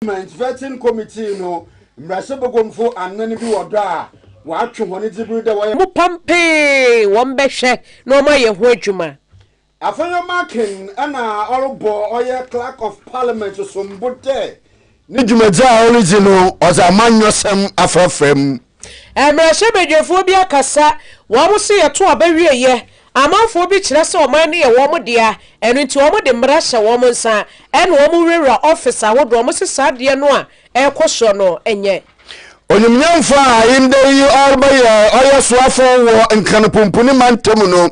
Parliament Vetting Committee no mbrahyɛbagumfo anan bi wɔ do a wɔatwe hɔn dze ber dɛ wɔyɛ. Wɔpampee wɔn bɛhwɛ na wɔayɛ ho adwuma. Afei ɔmacken na ɔrobɔ ɔyɛ Clerk of Parliament sombo dɛ. Ne dwumadzi a oridzi no ɔdze amanyɔsɛm afrafra mu. Mmarahyɛbadwafoɔ bi akasa, wɔn se yɛto aba wieɛ, amanfoɔ bi kyerɛ sɛ ɔman no yɛ wɔn dea, ɛno nti wɔn de mmara hyɛ wɔn nsa ɛna wɔn wurawura office ahodoɔ, wɔn se saa adeɛ no a ɛrekɔ soɔ no nyɛ. Onyimnyamfo a ndɛ yi ɔrebɛyɛ ɔyɛ soafo wɔ Nkranpumpuni mantamu no,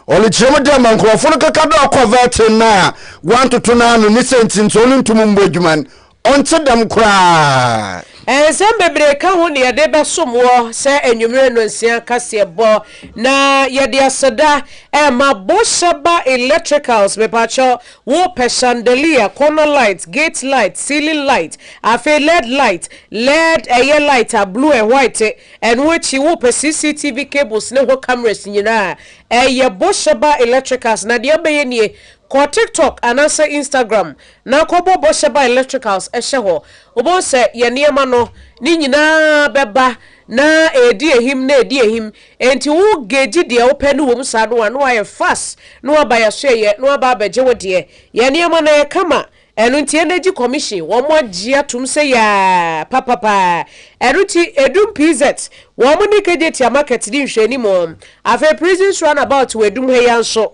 ɔrekyerɛmu dɛ ma nkorɔfo no kɛka dɛ ɔkɔvɛɛtse no a wɔanntoto n'ano ne siantsir ntsi ɔrunntum mmbɔ edwuma no, Ɔnntse dɛm koraa. Nsɛm bebree ka ho na yɛde bɛsom wɔ saa anwummere no nsia kaseɛbɔ. Na yɛde aseda rema Bosheba Electricals, mepaakyɛw, wopɛ chandelier, corner light, gate light, ceiling light, afei led light, led ɛyɛ light a blue and white, ɛno akyi wopɛ CCTV cables ne ho cameras nyinaa a, ɛyɛ Bosheba Electricals. Na deɛ wobɛyɛ nie, kɔ TikTok anaasɛ Instagram Na kɔbɔ bɔhyɛ ba electricals hyɛ hɔ. Wobɛhu sɛ yɛn nneɛma no, ne nyinaa bɛba na ɛredi ahim na ɛredi ahim. Enti wo gauge deɛ wopɛ no wɔ mu saa no a, na woayɛ fast na woaba yɛn so ɛyɛ na woaba abɛgye wo deɛ. Yɛn nneɛma no ɛyɛ kama. Ɛno nti Energy Commission, wɔagye atom sɛ yaa papapaa. Ɛno nti Edum PZ, wɔn ne Kejetia Market di nhwɛanim. Afei Prisons Runabout wɔ Edum ha yi ara nso,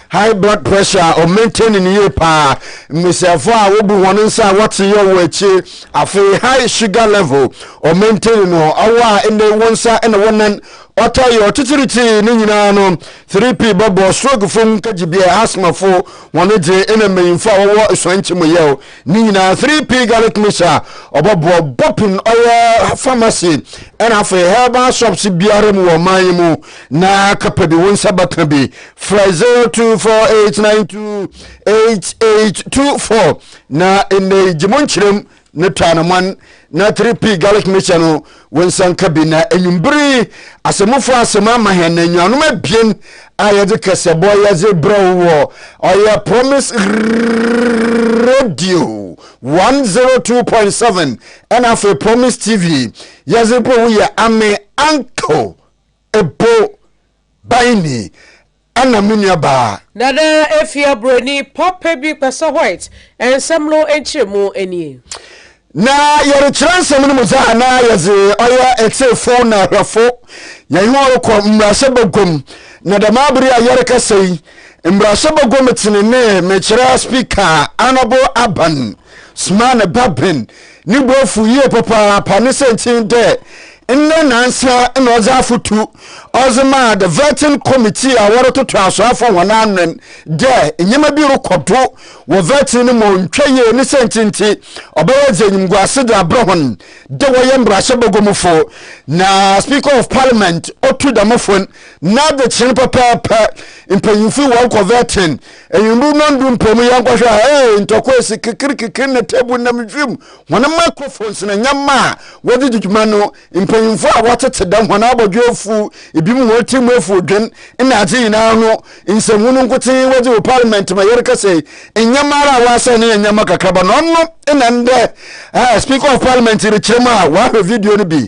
high blood pressure a ɔmo maintain ne yie paa mmesiafo a wobu wɔn nsa a wɔte yɛ wɔn akyi afei high sugar level ɔmo maintain no ɔwɔ a ɛnna wɔn nsa ɛna wɔn nan ɔtɔ yɛ ɔtitiriti ne nyinaa no 3p bɛbɔ stroke fo nkagyibea asthma fo wɔn gye ɛna mmanyinfo a wɔwɔ esuan nkyi mu yɛw ne nyinaa 3p garlic mixture ɔbɔbɔ bɔpin ɔyɛ pharmacy ɛna afei herbal shops biara mu wɔ ɔman yi mu na kapa bi wɔn nsa bɛka bi frɛ 0248928824 na nnɛ yi gye mo nkyerɛm ne tɔanoman na 3p garlic mixture no wo nsa nka bi na anwumbere yi asɛmufo asɛm ama hɛn na nnuanom abien a yɛdze kɛsɛbɔ yɛdze brɛ wo wɔ ɔyɛ promise radio 102.7 ɛna afei promise tv yɛdze brɛ wo yɛ ame uncle Ebo bae ni, ɛna me nua baa. Nana Afia Buroni papa bi pɛ sɛ white nsɛm no nkyerɛmu nie. Na yɛrekyerɛ nsɛm no mu dze a na yɛdze ɔyɛ etsefo na ahwɛfo. Hɛn ho rokɔ mbrahyɛ baguam, na dɛm aber yi a yɛrekasa yi, mbrahyɛ baguam tsenenee mekyerɛ Speaker Honourable Aban Sumah ne ba Ben No bo efuw yie papaapa ne siantsir dɛ ndɛ naansa na ɔdze afotu ɔdze maa the vetting committee a wɔrototo asoafo hɔn anwen dɛ ndzɛmba bi rokɔ do wɔ vetting no mu a onntwa yie ne siantsir ntsi ɔbɛyɛ dze enyimguase dze abrɛ hɔn dɛ wɔyɛ mbrahyɛ bɔgɔmufo na speaker of parliament otu dɛm fo no n'adzekyerɛ no pɛpɛɛpɛ mpanyimfo yi wɔrokɔ vetting Ewimbir no ndu mpo mu yɛnkɔhwɛ a, ee, ntɔkwa esi kekirkekir na tabu nam wimu. Hɔn microphones na ndzɛmba a wɔdze dzi dwuma no, mpanyimfo a wɔtsetse dɛm, hɔn abɔdwe efuw, binom hɔn tsirmu efuw dwen, nna adze nyina no nsanmu no nkotsee wɔdze wɔ parliament ma yɛrekasa yi. Ndzɛmba ara a wɔasɛɛ no yɛ ndzɛmba kakraba na ɔno na ndɛ Speaker of Parliament rekyerɛ mu a ɔahwɛ video no bi.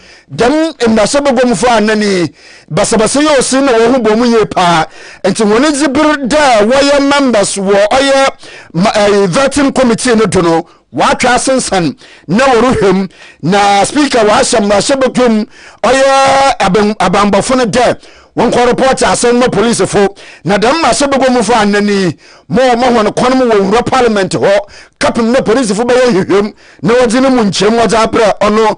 Dɛm mbasabagɔmfo anan yi, basabasa yɛ ɔsen na hɔnho bɔ mu yie paa, ntsi hɔn edzi ber dɛ wɔyɛ members wɔ ɔyɛ vetting committee no do no, wɔatwe asensan na wɔrohwɛ mu, na Speaker ɔahyɛ mbrahyɛbagua mu ɔyɛ abambɔfo no dɛ wɔnkɔ report asɛm no ma polisifo, na dɛm mbrahyɛbagɔmfo anan yi ma wɔma hɔn kwan ma wɔwura parliament hɔ kɛpem dɛ polisifo bɛyɛ nhwehwɛmu na wɔdze no mu nkyerɛmu wɔdze abrɛ ɔno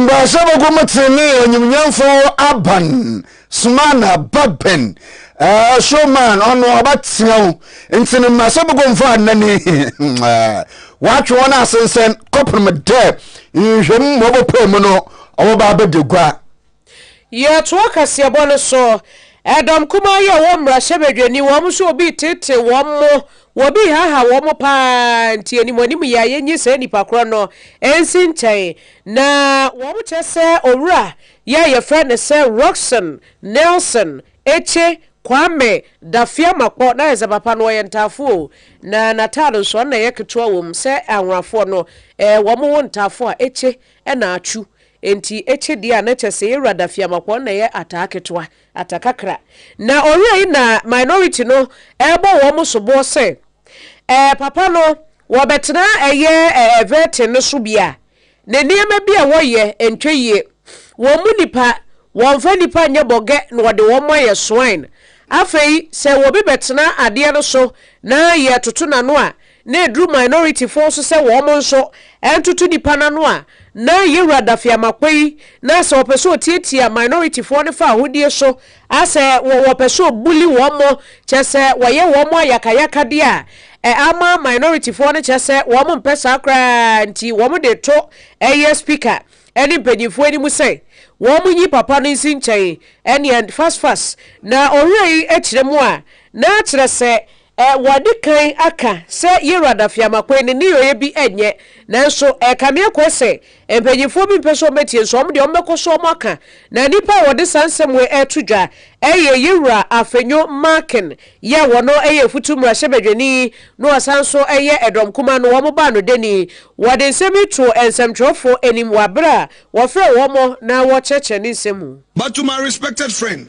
Mbrasɛ bɔkɔ mu tsenenee enyimnyamfo aban Sumana ba Ben Shoman ɔno ɔbɛtsena mu ntsi no mbrasɛ bɔkɔ mfa anan yi wɔatwe hɔn asensɛn kɔpem dɛ nhwɛmu ma ɔbɔpaa mu no ɔbɛba abɛda gua. Yɛtoa kaseɛbɔ no so. Ɛdɔm kumaa yi a ɔwɔ mmarahyɛbadwani wɔn nso wɔbi teetee wɔn mo, wɔbi haahaa wɔn mo pa ara nti animuanim yɛ a yɛnyi saa nnipa korɔ no nsi nkyɛn na wɔn kyɛ sɛ owura yi a yɛfrɛ no sɛ Rockson Nelson Ekye Kwame Dafiamakpɔ na ayɛ sɛ papa no ɔyɛ ntaafo o na n'ataade nso ɔno na ɛyɛ ketewa wɔ mu sɛ anworafoɔ no wɔn wo ntaafo a Ekye na Atwu Enti etse dee a na kyɛ se Ewuradze Afiamakɔ na ɛyɛ ataa ketewa, ata kakra. Na ɔweei na minority no rebɔ wɔn mo soboɔ sɛ eh papa no wɔbɛtena ɛyɛ eh Everton no so bi a ne nneɛma bi a wɔyɛ ntwɛ yie. Wɔn mu nipa wɔnfa nipa nyɛ bɔgɛ na wɔde wɔn mo ayɛ swine. Afei sɛ wɔbi bɛtena adeɛ no so na yɛtoto n'ano a na ɛduru minority foɔ nso sɛ wɔn nso ntoto nipa no ano a, na Yawura Daffy Amakpei na sɛ ɔpɛ sɛ ɔtiatia minority foɔ no fa ahodie so a sɛ wɔwɔ ɔpɛ sɛ ɔbully wɔn mo kyɛ sɛ wɔyɛ wɔn mo ayakayakadeɛ a, ɛ ama minority foɔ no kyɛ sɛ wɔn mpɛ saa koraa nti wɔn de to ɛyɛ speaker ne mpanyinfoɔ anim sɛ wɔn nyi papa no nsi nkyɛn ɛneɛ fast fast na ɔwerɛ yi kyerɛ mu a na kyerɛ sɛ E Wɔadi kan aka sɛ Yerad Afiamakwe ne nneyɔeɛ bi nyɛ, nanso e kame akoa sɛ mpanyinfoɔ bi mpɛ sɛ wɔbɛtie, nso wɔn deɛ wɔbɛkɔ so wɔaka. Na nnipa a wɔde saa nsɛm wei reto dwa yɛ Yewura Afenyo Markin yɛ a wɔno yɛ Afutu Mmarahyɛbadwani no ɔsan nso yɛ Ɛdɔm Kumaa no wɔn baanodani. Wɔde nsɛm yi too nsɛmtwerɛfoɔ anim wɔ abere a wɔfrɛɛ wɔn na wɔkyerɛkyerɛ ne nsɛm mu. But to my respected friend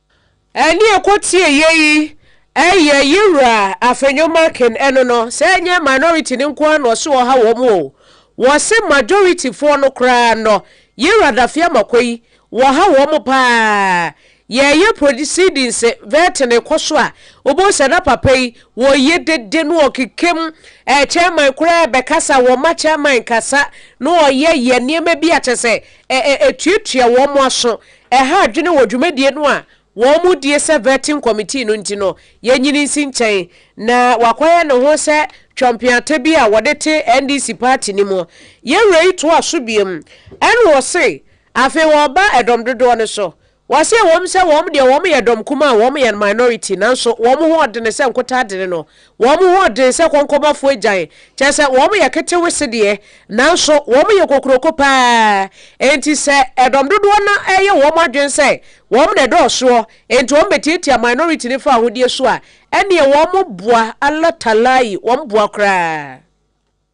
Ɛne ɛkɔ tie yɛ yi ɛyɛ ye wura afenyo makin ɛno no sɛ ɛnyɛ minority no nko ara na ɔse ɔha wɔn o wɔse majority foɔ no koraa nɔ ye wura dafea amakɔ yi wɔha wɔn paa yɛ yɛ proceedings vetting rekɔ so a wobɛhu sɛ na papa yi wɔye dede na ɔkekem eh, chairman koraa ɛbɛkasa wɔma chairman kasa na ɔyɛ yɛ nneɛma bi a kyɛ sɛ eh, eh, ɛtuatua wɔn aso Ɛha adwene wɔ dwumadie no a wɔdie sɛ Vetting Committee no nti no yɛ nyini nsi nkyɛn na wakɔyɛ ne ho sɛ twampeata bi a wɔde te NDC party no mu. Yɛn wura yi toa so biom ɛna ɔse afei wɔba ɛdɔm dodoɔ no so. Ɔse ɛwom sɛ wɔn deɛ wɔn yɛ dɔm kumaa a wɔn yɛ minority nanso wɔn ho ɔdene sɛ nkotadene no Wɔn ho den sɛ kɔnkɔbɔfo agyan, kyerɛ sɛ wɔyɛ ketewese deɛ, nanso wɔyɛ kokuroko pa ara. Enti sɛ ɛdɔm dodoɔ no yɛ wɔn adwene sɛ wɔn na ɛdɔɔsoɔ enti wɔbɛtiatia minority no fawohodie so a, ɛnneɛ wɔn boa, Allah Talai, wɔn boa koraa.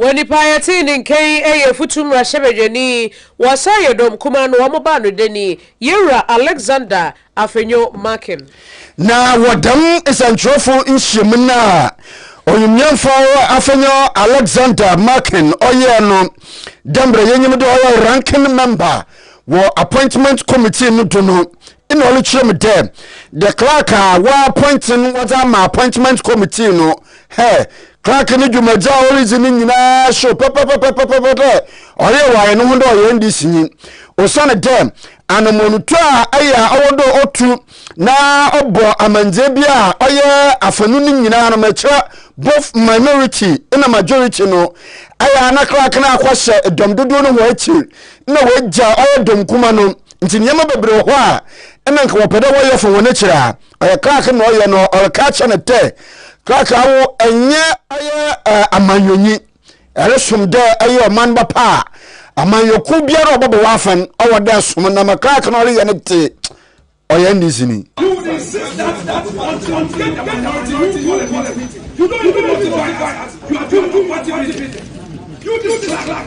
Wɔ nnipa a yɛtee ne nka yi ɛyɛ afutu mmarahyɛbadwani wɔ Asaaye Dɔm Kumaa no wɔn baa no dani, Yewura Alexander Afenyo Markin. Na wɔ dɛm nsɛnkyerɛwfo nhyiamu no a Onyimnyamfo Afenyo Alexander Markin ɔyɛɛ no dɛ mbrɛ yenyim dɛ ɔyɛ Ranking Member wɔ Appointment Committee no do no, nna ɔrekyerɛ mu dɛ, The Clerk a wɔappoint no wɔdze ama Appointment Committee no, Hɛ, Clarke no dwumadzi a oridzi no nyina show pɛpɛpɛpɛpɛpɛ dɛ ɔreyɛ wɔ ayɛ noho dɛ ɔyɛ NDCnyi. Osiandɛ anamɔntu a ayɛ a ɔwɔ dɛ otu na ɔbɔ amandzɛɛ bi a ɔyɛ afanu no nyina no ma kyerɛ both minority na majority no, ayɛ a na Clarke no akɔhyɛ dɔm dodow no hɔn ekyir na oegya ɔyɛ dɔm kuma no. Ntsi ndzɛmba beberee wɔ hɔ a nna nka wɔpɛ dɛ wɔyɛ fa hɔn ekyir a, ɔyɛ clerk na ɔyɛ no ɔreka akyerɛ no dɛ clerk awo ɛnyɛ ɛyɛ eh, amanyɔnyi ɛresom dɛ ɛyɛ ɔman ba pa a amanyɔkuw biara ɔbɛbɔ w'afɛn ɔwɔ dɛ som na ma clerk na ɔreyɛ no te ɔyɛ ndc ni. You don't even notify us. You are doing party meeting. You this clerk.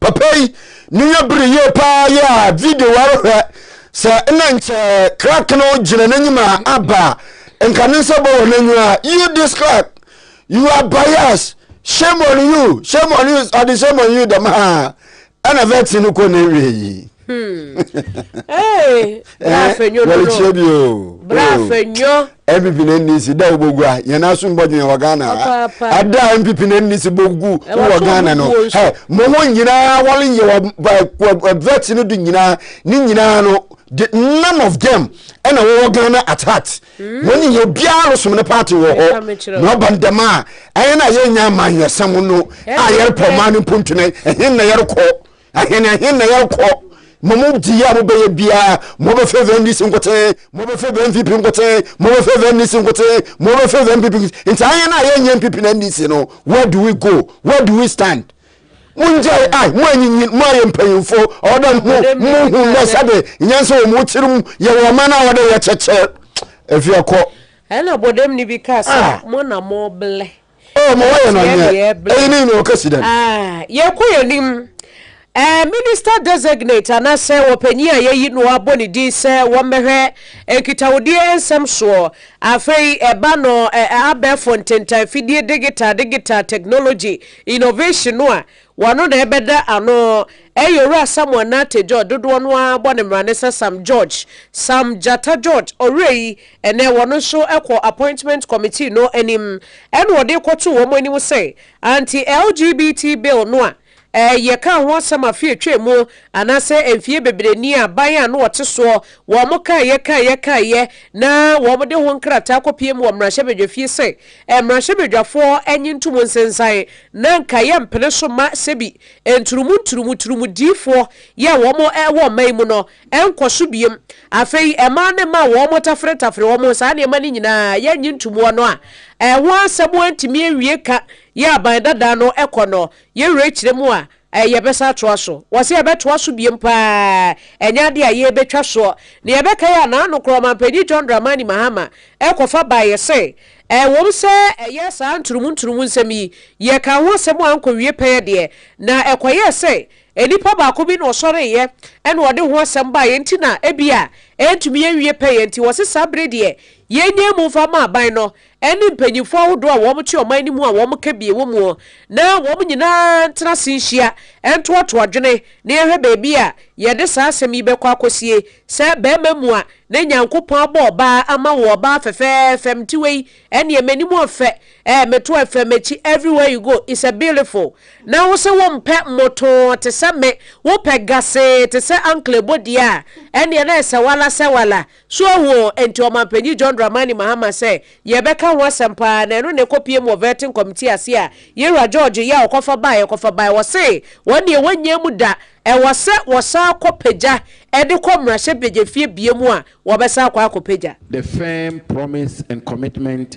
papa yi ne yɛ bere yie paa yɛ a video wɔrehwɛ sɛ na nkyɛ crack no gyina n'anim a aba nka ne nsa bɔ wɔ n'anim a you this crack you are biased shame on you shame on you ɔde shame on you dɛm ha ɛna vɛti no kɔ ne wie yi. Hmm. bra eh, fenyo no no wɔrekyerɛ bi o bra o fenyo mpp na nni si da wobɔgu a yɛn aso mbɔdwen wɔ ghana ha Papaapa. ada a mpp na nni si bɔgu Eh, wɔ wɔto ghana no bubuo nso. hɛ mo ho nyinaa wɔreyɛ wɔ ba- wɔ- wɔ vet no do nyinaa ne nyinaa no the none of them ɛna wɔwɔ ghana at heart wɔn nyinaa obiara resom ne party wɔ Meka hɔ mekyerɛ wo. na ɔba ndɛm a ɛyɛ no a yɛnya amanyɔsɛm no a Eh, yɛrepɔ eh. ɔman no mpontene ɛhe na yɛrekɔ Ahen ahen na yɛkɔ mo mo di a mobɛyɛ biara mobɛfɛvɛ ndc nkoten mobɛfɛvɛ npp nkoten mobɛfɛvɛ ndc nkoten mobɛfɛvɛ npp nti ahen a yɛnyɛ npp na ndc no where do we go where do we stand mongyae a mo anyinyin mo ayɛ mpanyimfo ɔdɛ mo mo hu nɛ sɛde nyansa wɔ mo tirim yɛwɔ ɔman a wɔde yɛ kyɛkyɛ afia kɔ ɛna bɔdɛmni bi kaa sɛ ah. mo na moblɛ Oh, ma wɔyɛ no nyɛ. Eyi ne nyina ɔkɛsi dɛn? Yɛkɔ yɛn anim. Eh, Minister Designate anaasɛ wɔpanyin a yɛayi no abɔ ne din sɛ wɔmmɛhwɛ nkitahodie nsɛm soɔ. Afei ɛba no eh, abɛɛfo ntentan fidie digital, digital technology, innovation no a, Wano na ɛbɛda ano ɛyɛ Owura Samuel Nartey George dodoɔ no ara bɔ ne mmara ne sɛ Sam George, Sam Gyata George, Owura yi ɛnɛ wɔno nso kɔ Appointment Committee no anim ɛna wɔde kɔtoo wɔn anim sɛ Anti LGBT Bill no a yɛ kaa ho asɛm afe atwaa mu anaasɛ mfeɛ bebree ni a ban a na wɔte soɔ wɔn kaeɛ kaeɛ kaeɛ na wɔn de ho nkrataa kɔpiem wɔ mmarahyɛbadwafie sɛ Mmarahyɛbadwafoɔ nye ntom nsensan na anka yɛ mpene so ma sɛbi nturumu nturumu turumu diifoɔ yɛ wɔn wɔ mma yi mu no nkɔ so biem. Afei mmaa ne mma a wɔn tafere tafere wɔn saa nneɛma no nyinaa yɛ nye ntomuo no a ɛho asɛm antumi awie ka yɛ aban dada no kɔ no yɛ werɛ kyerɛ mu a Ɛɛ, yɛbɛsan atoa so? Wɔse yɛbɛtoa so biom paa, ɛnyɛ adeɛ a yɛrebɛtwa soɔ. Nea ɛbɛkae a na nokorɛ Ɔmanpanyin John Dramani Mahama rekɔfa baeɛ se, Ɛwom sɛ ɛyɛ saa nturumu nturumu nsɛm yi, yɛkaa ho asɛm a ankɔwie pɛɛ deɛ, na ɛkɔyɛɛ sɛ nnipa baako bi na ɔsɔreeɛ na ɔde ho asɛm baeɛ nti na ebia ɛrentumi ɛnwie pɛɛ nti wɔse saa bere deɛ yɛnyaa mu mfa mma aban no ɛne mpanyimfo ahodoɔ a wɔte ɔman no mu a wɔka bi wɔ mu na wɔn nyinaa ntena ase nhyia ntoatoa adwene na yɛhwɛ baabi a yɛde saa asɛm yi bɛkɔ akɔsie sɛ barima mua na Nyankopɔn abɔ ɔbaa ama wo ɔbaa fɛfɛɛfɛ mte wei ɛneɛ m'anim ɔfɛ ɛɛ meto ɛfɛ m'akyi everywhere you go is a beautiful na wo se wo mpɛ motoo te sɛ me wo pɛ gasee te sɛ ankle bɔdeɛ a ɛneɛ na ɛsɛ wala sɛ wala So ohu o, enti Ɔmanpanyin John Dramani Mahama sɛ yɛbɛka ho asɛm paa na ɛno na ɛkɔpiem wɔ Vetting Committee ase a Yewura George Yea ɔkɔfa baeɛ kɔfa baeɛ. Wɔse wɔn deɛ wɔnnya mu da, ɛwɔ sɛ wɔsan kɔ pagya de kɔ mmarahyɛbadwafie biam a wɔbɛsan akɔ akɔpagya. The firm promise and commitment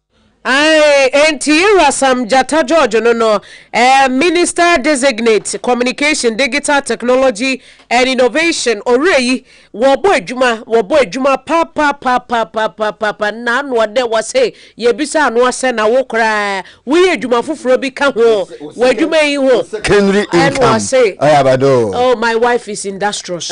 Ae, enti Irasam Gyata George no no eh, Minister Designate, Communication, Digital Technology and Innovation, ɔwerɛ yi, wɔbɔ adwuma, wɔbɔ adwuma papapapapapapa, na ano ɔdɛ, wɔse yɛbisa ano asɛ na wo koraa woyɛ adwuma foforɔ bi ka ho, w'adwuma yi ho, ɛna ɔse, oh my wife is industrious.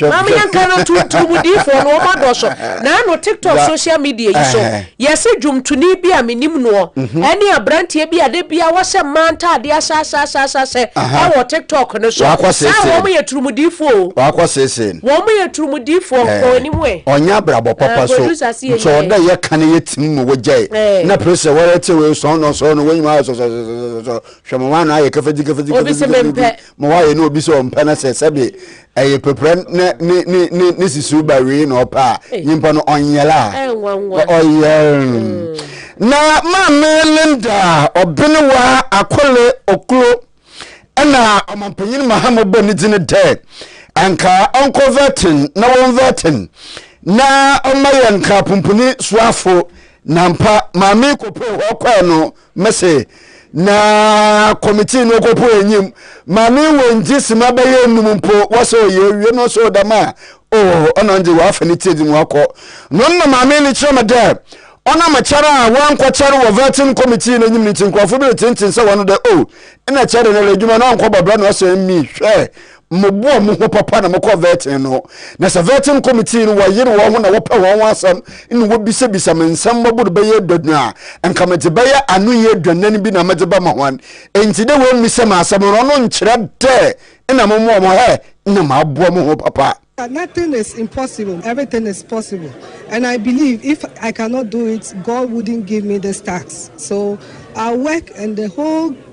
Maame Nyanka no tu Dwumdifoɔ no wɔn adɔɔso na ano TikTok social media yi so yɛse dwomtoni bi a menim noɔ ɛne abranteɛ bi a da biara wɔhyɛ mmaa ntaadeɛ asaasaasasɛ ɛwɔ TikTok no so saa wɔn yɛ turumdifoɔ o wakɔ sese wɔn yɛ turumdifoɔ nkɔ anim ɛ ɔnyɛ abrabɔ papa so nso ɔda yɛ ka ne yɛ tim mu wɔgyae na pere sɛ wɔrɛ te wei sɔn no sɔn no wɔnyima ayɛ sɔsɔsɔsɔsɔ hwɛ mo wɔn ano ayɛ kafadzi kafadzi kafadzi kafadzi ma wayɛ na obi sɛ ɔmpɛ no sɛ sɛbe ɛyɛ pɛprɛ ne ne ne ne ne sisiw ba wei na ɔpɛ a eh. nyimpa no ɔnyɛla ɔyɛ mm. na maame linda ɔbenewa akole oklo ɛna ɔmampanyin mahama bɔ ne dzin dɛ anka ɔnkɔ vɛtin na wɔn vɛtin na ɔma yɛ nka pumpuni soafo nampa maame kopo hɔ kɔɛ no Mese na committee no kopo enyim ma ne wɔngye sima bɛyɛ enum mpo wɔsɛ ɔyɛ ewie no so dɛm a oh ɔno ndze wɔafa ne tiedzi mu akɔ no nna maame no kyerɛ me dɛ ɔnam kyɛr a wɔannkɔkyɛr wɔ vetting committee n'enyim no ntsi nkorɔfo bi retsentsen sɛ wɔno dɛ oh nna kyɛr no ara edwuma no ɔnnkɔbɔ bra na ɔsɛ me hwɛ Moboa mo ho papa na mokɔ vetting no, na sɛ vetting committee no wɔyere wɔn ho na wɔpɛ wɔn ho asɛm na wobisabisa me nsɛm mmɔbo no bɛyɛ aduonu a, anka medze bɛyɛ anoyi aduanan bi na medze bɛma hɔn. Ntsi dɛ woemmisa me asɛm no, ɔno nnkyerɛ dɛ nna mommboa mo ho ɛ, nna maboa mo ho papa. Nothing is impossible, everything is possible and I believe if I cannot do it, God wouldn't give me this task so I'll work and the whole.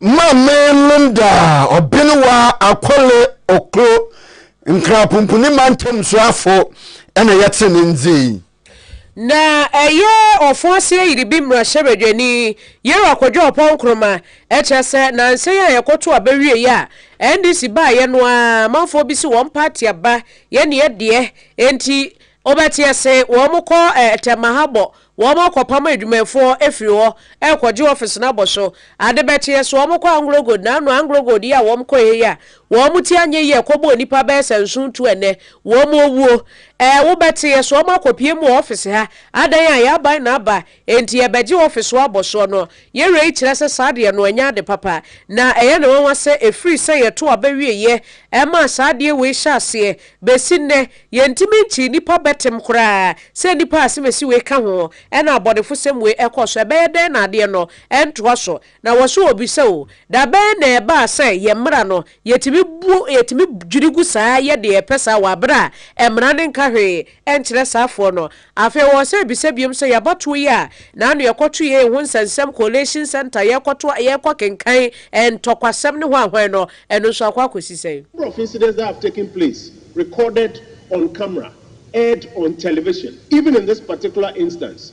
Ma me nom daa ɔbene wa akole oklo nkrapumpuni mantam soafo na yɛte ne ndzin. Na ɛyɛ ɔfo ase ayiribi mmrahyɛbadwani Yero Akwadwo Apaw Nkrumah, kyerɛ sɛ nansa yi a yɛkɔto aba wiei a NDC baeɛ no ara amanfoɔ bi se wɔn party aba yɛ neɛ deɛ enti Wobɛteɛ se wɔkɔ tɛma ha bɔ wɔn akɔpam adwumaɛfoɔ afiri hɔ rekɔgye office no abɔ so. Ade bɛkyeɛ se wɔkɔ Anglogold naano Anglogold yi a wɔkɔɛ he yi a wɔn ti anyɛ yie kɔbɔɔ nnipa bɛyɛ sɛ nson tu ɛnnɛ wɔn owuo. Wobɛteɛ se wɔakɔpiem wɔ office ha adan a yɛaban na aba Enti yɛbɛgye ofi so abɔsoɔ no. Yɛn wei kyerɛ sɛ saa adeɛ no ɛnyɛ ade papa. Na ɛyɛ no nwanwa sɛ ɛfiri sɛ yɛto aba wieeɛ ɛmaa saa adeɛ wei hyɛɛ aseɛ bɛsi nnɛ, yɛntumi nkyee nnipa bɛtem koraa, sɛ nnipa a asemasi wei ka ho ɛna abɔnefosɛm wei ɛkɔ so. Ɛbɛyɛ dɛn na adeɛ no ɛntoa so? Na wɔse wɔbisa o, da bɛn na ɛbaa sɛ yɛn mmara no Yɛtumi bu, yɛtumi dwiri gu saa, yɛ deɛ yɛpɛ saa wɔ aberɛ a mmara no nka hwee nkyerɛ saa foɔ no. Afei wɔwɔ sɛ ɛbisa biom sɛ, Yɛabatoɔ yi a na ano yɛkɔto yei ho nsɛnsɛm, collation centre, yɛrekɔto a, yɛrekɔ kenkan ntɔkwasɛm ne hwan hwan no, ɛno nso akɔ akɔsi sɛn? Number of incidents that have taken place recorded on camera, aired on television, even in this particular instance,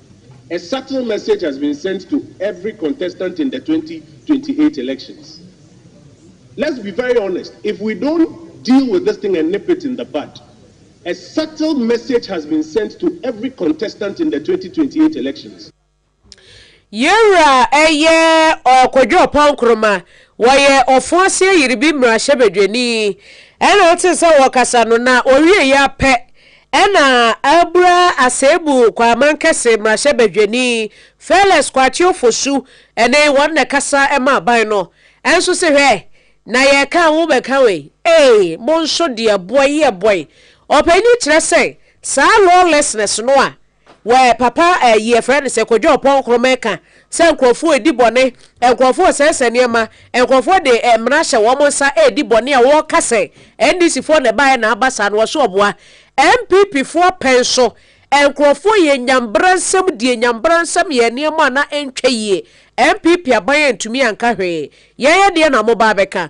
A subtle message has been sent to every contestant in the twenty twenty eight elections. Let's be very honest, if we don't deal with this thing and nip it in the bud, a subtle message has been sent to every contestant in the twenty twenty eight elections. Yɛn wura a ɛyɛ Kojo Ɔpɔn Nkrumah, ɔyɛ Ɔfo Ase Ayiribim Mmarahyɛbadwani, ɛna wotee sɛ wɔrekasa no, na ɔwieeɛ ara pɛ Ɛna abura aseebu Kwaman Kɛse mmarahyɛbadwani Felix Kwakye Ofosu ne wɔn na ɛkasa ma aban no nso se hwɛ na yɛka a wobɛka wei ee mo nso deɛ boy yɛ boy ɔpanyin kyerɛ sɛ saa lawlessness no a Wɛɛ papa ɛyi yɛfrɛ no sɛ kwadwo ɔpɔn krɔma ɛka sɛ nkorɔfoɔ ɛdi bɔne nkorɔfoɔ sɛɛsɛ nneɛma nkorɔfoɔ de mmara hyɛ wɔn nsa ɛdi bɔne a wɔwɔ ka sɛ NDC foɔ na ɛbaeɛ na aba saa no wɔse ɔboa NPP foɔ pɛn so nkorɔfoɔ yɛ nya mbra nsɛm die nya mbra nsɛm yɛ nneɛma a na ɛntwa yie NPP aban antumi anka hwee yɛyɛ deɛ na mo ba abɛka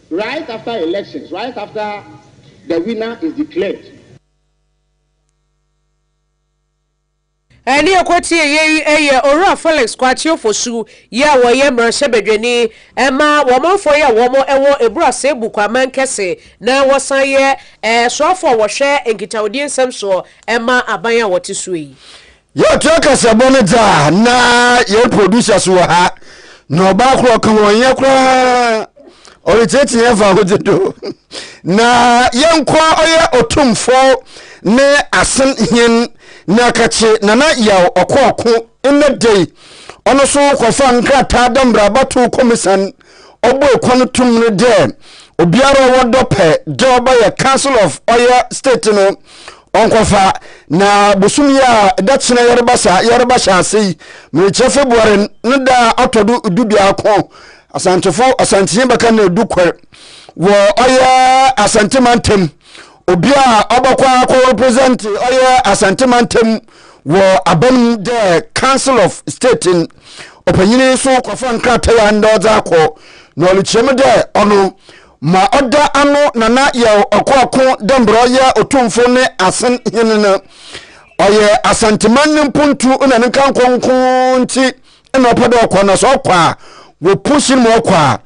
Right after elections, right after the winner is declared. Ɛne ɛkɔteɛ yei yɛ Owura Felix Kwakye Ofosu yi a ɔyɛ mmarahyɛbadwani ma wɔmanfoɔ yi a wɔn wɔ Eburu Asebu Kwaman Kɛse na wɔsan yɛ soafoɔ a wɔhwɛ nkitahodie nsɛm soɔ ma aban a wɔte soɔ yi. Yɛtoa kasabɔ no dza na yɛn producers wɔ ha na ɔbaa kor ɔka ho ɔnyɛ koraa ɔretseetsee yɛn fa ahodze do na yɛnkɔ ɔyɛ ɔtomfo ne asen hen na kakye nana yaw ɔkɔ ɔko ndɛ da yi ɔno so kɔfa nkrataa dɛ mbrɛ abatow kɔmisan ɔbɔe kwan tum no dɛ obiara ɔwɔ dɔ pɛ dɛ ɔbɛyɛ council of ɔyɛ state no Ɔnkɔfa, na bosoom yi a da kyena yɛreba sa yɛreba hyɛ ase yi, merekyerɛ February ne da a ɔtɔ do du biako Asantefo Asantehene bɛka na edu kɔr wɔ ɔyɛ Asante mantam. Obi a ɔbɔkɔ akɔ represent ɔyɛ Asante mantam wɔ aban mu dɛ Council of State n ɔpanyin so kɔfa nkratae a ndɛ ɔdze akɔ na ɔrekyerɛ mu dɛ ɔno Ma ɔda ano nana yɛw ɔkoako dɛ mbrɛ ɔyɛ otumfo ne asen hen no. Ɔyɛ Asanteman ne mpontu na ne nkankɔ nko ntsi na ɔpɛ dɛ ɔkɔ na sɛ ɔkɔ a wopush no ma ɔkɔ a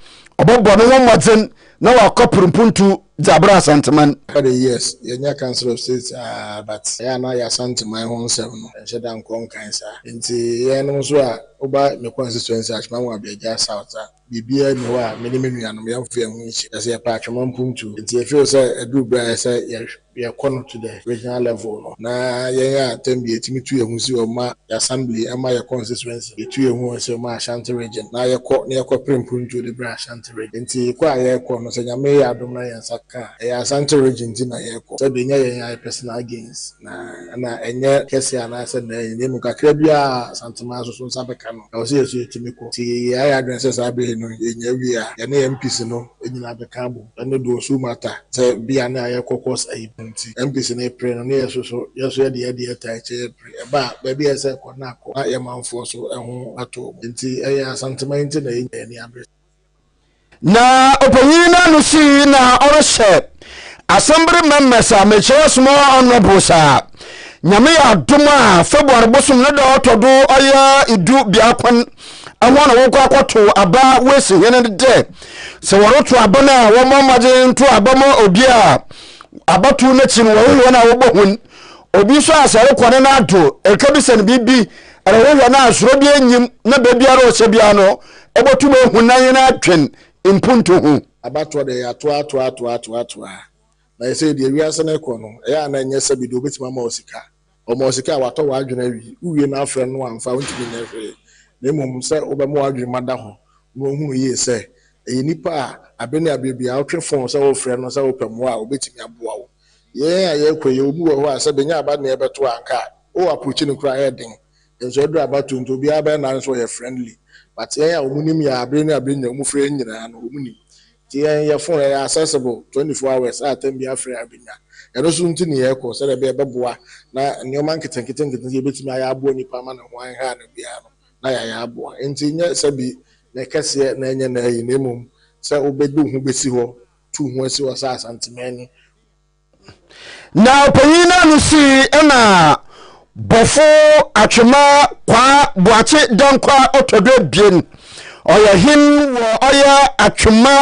ɔbɔbɔ noho mbɔdzen na ɔakɔper mpontu dze abrɛ Asanteman. Ɔka dɛ, Yes, yɛanya Council of State aa but ɔyɛ a na yɛ Asanteman ho nsɛm no yɛnnhyɛ da nnkɔ nnkan saa. Ntsi hɛnnom so a woba me constituency Ashman-Wabeagya South a, Biribiara nni hɔ a me ne me nuanom yɛmfa yɛn ho nsi, na sɛ yɛpɛ a twema mpo ntu. Enti yɛfeel sɛ aduru bere a ɛsɛ sɛ yɛkɔ no to the regional level no. Na yɛn a tɛm bi yɛtumi tu yɛn ho si hɔ ma yɛn assembly ma yɛn constituency, yɛtu yɛn ho si hɔ ma Ashanti region, na yɛkɔ na yɛkɔpere mpontuo de brɛ Ashanti region. Enti kɔ a yɛkɔ no, sɛ Nyame yɛ adom na yɛn nsa ka a, ɛyɛ Asante region nti na yɛkɔ. Sɛdeɛ ɛnyɛ yɛn ayɛ personal gains, na ɛna ɛnyɛ kɛseɛ anaasɛ mɛɛ, yɛn mu kakra biara a Asanteman nso so nsa bɛka no. Ɛwɔ sɛ yɛn nso yetumi kɔ. Sɛ yɛayɛ yɛn adwene sɛ saa bere yi no yenya awie a, yɛne yɛn MPs no nyinaa abɛka abom. Ɛno de, osu mu ata sɛ bia na yɛkɔ course ayi pɛ nti, MPs no repere no, na yɛn nso so, yɛn nso yɛde yɛn deɛ tae kyɛ yɛn pere. Ɛba a, baabi a ɛsɛ sɛ yɛkɔ no na akɔ, na yɛn manfoɔ nso ho atɔ wɔn. Enti, ɛyɛ Asanteman nti na yenya yɛn ani abere saa. Na ɔpanyin no ano sii na ɔrehyɛ asɛmbere mɛmɛs a mekyerɛ soma ɔnɔbo saa. Nyame yɛ adom a February bosom ne da ɔtɔ do ɔyɛ idu biakon ɛhɔ na wɔkɔ akɔto aba wesi hene no dɛ sɛ wɔreto aba no a wɔmmɔ mmɔden nto aba ma obi a abatow no akyi no wɔhwehwɛ no a wɔbɔ hun obi nso a sɛ rekɔ ne no ado ɛka bi sɛ no biribi ɛrehwehwɛ no a soro bi enyim na baabiara ɔhyɛ biara no botum ehu na hɛn adwen mpontu ho. Abatoɔ deɛ yɛatoa toa toa toa toa na sesei deɛ wiase no rekɔ no ɛyɛ a na ɛnyɛ sɛbi deɛ ɔbɛtumi ama wo sika ɔma wo sika a watɔ w'adwene awi wowie no afrɛ no amfa wontumi nyɛ hwee na mmom sɛ wobɛma w'adwene mu ada hɔ na wahunu yie sɛ ɛyɛ nipa a abe ne abeɛ biara wotwe fon sɛ wofrɛ no sɛ wopɛ mmoa a ɔbɛtumi aboa wo yɛn a yɛrekɔ yi obi wɔ hɔ a sɛ bɛnya aba ne ɛbɛto a anka wo approach no koraa ɛyɛ den Nso ɛduru abatoɔ nti obiara bɛyɛ n'adwene sɛ ɔyɛ friendly but yɛn a wɔn nim yɛn a bere ne a bere nyinaa wɔn frɛ yɛn nyinaa no wɔn nim nti yɛn yɛ phone ɛyɛ accessible twenty four hours a time biara frɛ a bɛnya ɛno nso nti ne yɛkɔ sɛdeɛ ɛbɛyɛ ɛbɛboa na nnoɔma nketenkete nketenkete yɛbɛtumi ayɛ aboa nipa ama ne ho anha no biara no na yɛayɛ aboa nti nyɛ sɛbi na ɛkɛseɛ na ɛnyɛ na ayi na mmom sɛ wobɛde wo ho bɛsi hɔ tu wo ho asi hɔ sɛ Asantemani. Na ɔpanyin no ano sii na bɔfo atwema kwaa boakye dankwa ɔtɔdo abien ɔyɛ hen wɔ ɔyɛ atwema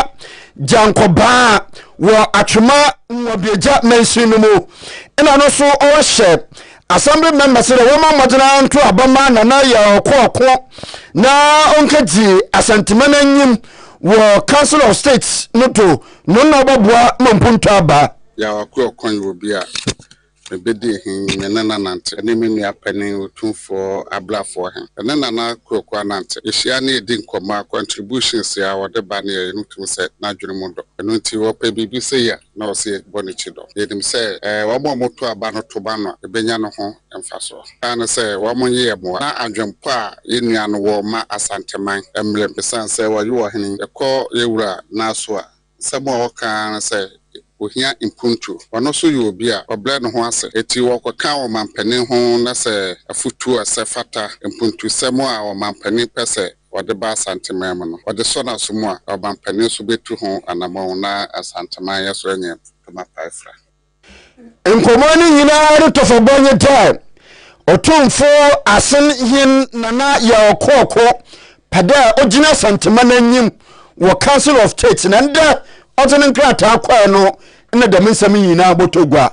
gyankɔbaa wɔ atwema nwabiagya mansin no mu na no so ɔhyɛ assembly member sɛ dɛ wɔma mmɔgyena nto aba ma nana yɛ ɔko ɔko na ɔnkɛgye asantema no anyim wɔ council of state no do No na ɔbɔboa ma mpontu aba. Yaw akoa ɔkwan yi wɔ bi a mebedi he, me ne no anante, ne me nua panin Otumfoɔ Abrafoɔ he, yɛne Nana Kweoku anante, yehyia ne yedi nkɔmmɔ a, contributions a ɔde ba ne yɛyɛ no wotumi sɛ n'adwene mu dɔ. Ɛno nti ɔpɛ biribi sei a, na ɔse yɛbɔ n'akyi dɔ. Yenim sɛ wɔn a wɔto aba no to ba no a, ebenya no ho mfasoɔ. Ɛyɛ ne sɛ wɔn nyeyɛ mmoa na adwenpɔ a yɛn nua no wɔ ma Asanteman mmerem esiane sɛ wɔayi ɔhene. Yɛkɔ yɛn wura Naaso a, nsɛm a ɔka ara ne sɛ ɔhia mpuntuo. Ɔno nso yɛ obi a ɔbrɛ ne ho ase enti ɔkɔka wɔ mampanin ho na sɛ afotuo a ɛsɛ fata mpuntusɛm a ɔmampanin pɛ sɛ ɔde ba Asanteman mu no, ɔde sɔ n'aso mu a, ɔmampanin nso bɛtu ho anammɔn na Asanteman yɛ so anya ntoma pae fra. Nkɔmmɔ no nyinaa no tɔfɔbɔ nye dɛ Otumfo Asen Hen Nana Yaw Kɔɔkõ pɛ dɛ ogyina Asantema n'enyim wɔ Council of State na ndɛ ɔdze no nkrataa kɔe no nna dɛm nsɛm yi nyinaa bɔtɔ gua.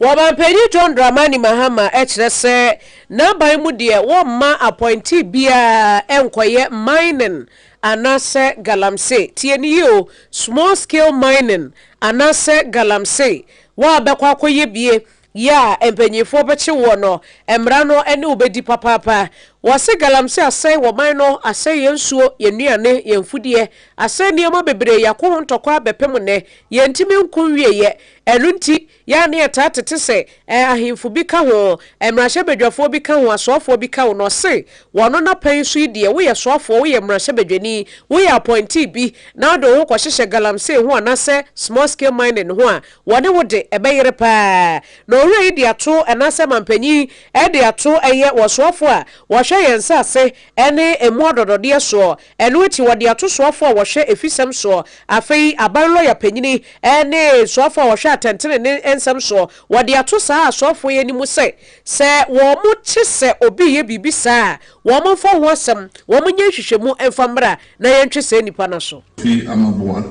Wɔbampanyin John Dramani Mahama kyerɛ sɛ n'aban mu deɛ wɔmma appointee biara nkɔyɛ mining anaasɛ galamsey, tie no yie o, small scale mining Anasɛ galamsey wo a bɛkɔ akɔyɛ bie yɛ a mpanyinfoɔ bɛkye woɔ no mmara no ne wo bɛdi papaapa. Wɔse galamsey asɛe wɔ man no, asɛe yɛn nsuo, yɛn nnuane, yɛn mfudeɛ, asɛe nneɛma bebree, yɛako ho ntɔkwa bɛpem nnɛ, yɛntumi nko nwieɛ, ɛno nti yɛ a ne yɛtaa tete sɛ Ɛ ahemfo bi ka ho, ɛ mmarahyɛbadwafoɔ bi ka ho, asoafoɔ bi ka ho, na ɔse wɔn no na pɛn so yi deɛ woyɛ soafoɔ, woyɛ mmarahyɛbadwani, woyɛ apɔintee bi na wode wo ho kɔhyehyɛ galamsey ho anaasɛ small scale mining ho a, wɔne wo de, ɛbɛyere paa. Na owura yi de ato, anaasɛ mampanyin de ato, ɛyɛ wɔ soafoɔ a wɔhwɛ yɛn nsase ne ɛmu adɔdɔdeɛ soɔ, Ɛno akyi wɔde ato soafoɔ a wɔhwɛ afisɛm soɔ. Afei aban lɔya panyini ne soafoɔ a wɔhwɛ atɛntenenee nsɛm soɔ, wɔde ato saa asoafoɔ yi anim sɛ, sɛ wɔte sɛ obi reyɛ biribi saa a, wɔmfa ho asɛm, wɔnyɛ nhwehwɛmu mfa mmra na yɛntwe saa nipa no aso. Fi ama boa.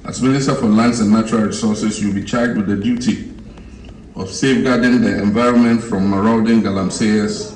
As Minister for Lands and Natural Resources, you will be charged with the duty of safeguarding the environment from marauding galamseyers,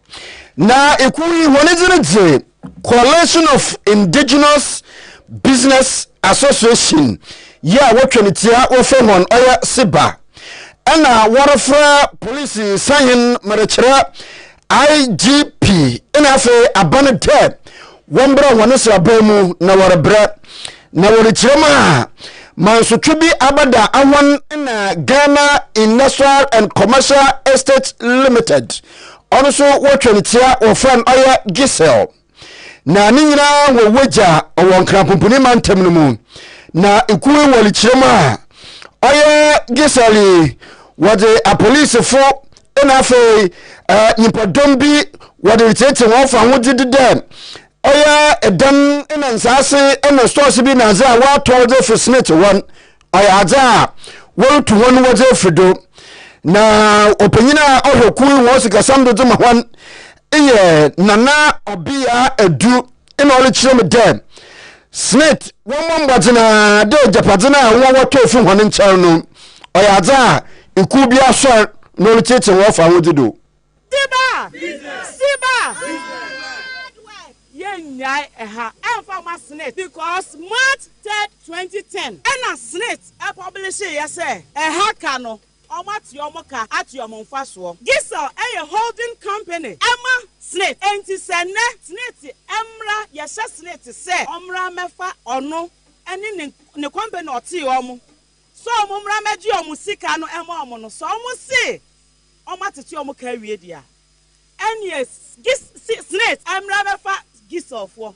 Na ekuw yi hɔn dzin dze Coalition of Indigenous Business Association yi a wɔtwe no tsia wɔfrɛ hɔn ɔyɛ CIBA na wɔrefrɛ Police Sahen merekyerɛ IGP na afei Aban dɛ Wɔmbra hɔn nseraban mu na wɔreberɛ, na wɔrekyerɛ mu a, mansotwe bi abɛda hɔn na Ghana Industrial and Commercial Estates Limited, ɔno so wɔtwa no tsia, wɔfrɛ no ɔyɛ GCIL, na ne nyina hɔn wegya ɔwɔ Nkran Pumpuni Mantam no mu, na ekuo yi wɔrekyerɛ mu a, ɔyɛ GCIL yi, wɔdze apolisefo na afei nyimpadɔm bi wɔde retseetse hɔn fahodzi do dɛ ɔyɛ dan na nsaase na stores bi na adze a wɔatɔ wɔdze efi Smith hɔ ɔyɛ adze a wɔrotu hɔn wɔdze efi do na ɔpanyin a ɔhwɛ kuw yi hɔn sikasɛm do dze ma hɔn eyɛ nana ɔbea edu na ɔrekyerɛ me dɛ Smith wɔmmɔ mbɔdzen ara dɛ egyapadze no a hɔn wɔtɔ efi hɔn nkyɛn no, ɔyɛ adze a ekuw bi asoɛr na ɔretsetsir hɔn fahodzi do. Siba! Siba! Yennyae ha mmfa mma Smith because March third twenty ten na Smith publishee yɛ sɛ ɛha ka no. Wɔate wɔn ka ate wɔn mfasoɔ. Diesel yɛ holding company ma Senate enti sɛ nnɛ Senate mmra yɛhyɛ Senate sɛ wɔmmra mmɛfa ɔno ne ne ne company a ɔtee wɔn sɛ wɔn mmra mmɛgye wɔn sika no ɛma wɔn no sɛ wɔn se wɔn atete wɔn ka awie deɛ a ɛneɛ Senate mmra mmɛfa Diesel foɔ.